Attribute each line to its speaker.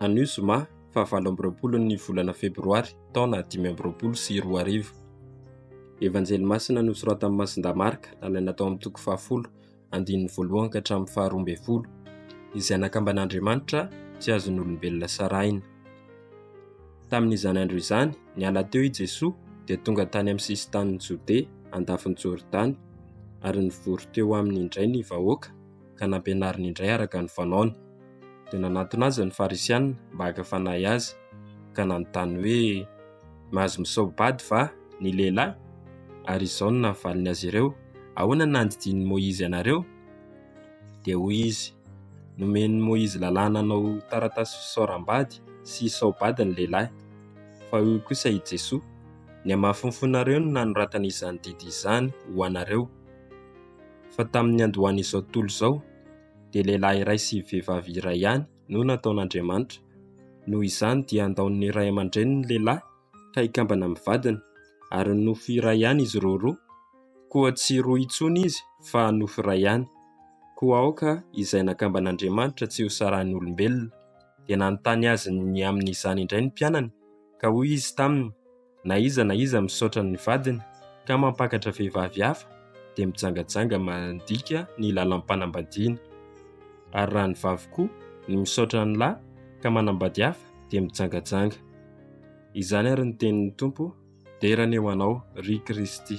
Speaker 1: Anio zoma fahavalo amby roapolo ny volana febroary taona dimy amby roapolo sy roa arivo. Evanjely masina nosoratan'i Masindahy Marka nalaina tao amin'ny toko fahafolo andininy voalohany ka hatramin'ny faharoa ambin'ny folo. Izay nakamban'Andriamanitra tsy azon'olombelona sarahina. Tamin'izany andro izany, niala teo i Jesoa dia tonga tany amin'ny sisin-tanin'i Jodea andafin'i Jordany ary nivory teo aminy indray ny vahoaka ka nampianariny indray araka ny fanaony. Dia nanatona azy ny Farisianina mba haka fanahy azy ka nanontany hoe, Mahazo misaobady va ny lehilahy? Ary izao no navaliny azy ireo, Ahoana no nandidian'i Moizy anareo? Dia hoy izy, Nomen'i Moizy lalàna hanao taratasy fisaoram-bady sy hisaobady ny lehilahy, fa hoy kosa i Jesoa, Ny hamafinfonareo no nanoratana izany didy izany ho anareo. Fa tamin'ny niandohan'izao tontolo izao, dia lehilahy iray sy vehivavy iray ihany no nataon'Andriamanitra. Noho izany dia andaon'ny ray aman-dreny ny lehilahy ka hikambana amin'ny vadiny, ary nofo iray ihany izy ireo roa. Koa tsy roa intsony izy fa nofo iray ihany. Koa aoka izay nakamban'Andriamanitra tsy hosarahin'olombelona. Dia nanontany azy ny amin'izany indray ny mpianany. Ka hoy izy taminy, Na iza na iza misaotra ny vadiny ka mampakatra vehivavy hafa, dia mijangajanga mandika ny lalam-panambadiana. Ary raha ny vavy koa no misaotra ny lahy ka manambady hafa, dia mijangajanga. Izany ary ny tenin'ny Tompo, Dera ny eo anao, ry Kristy.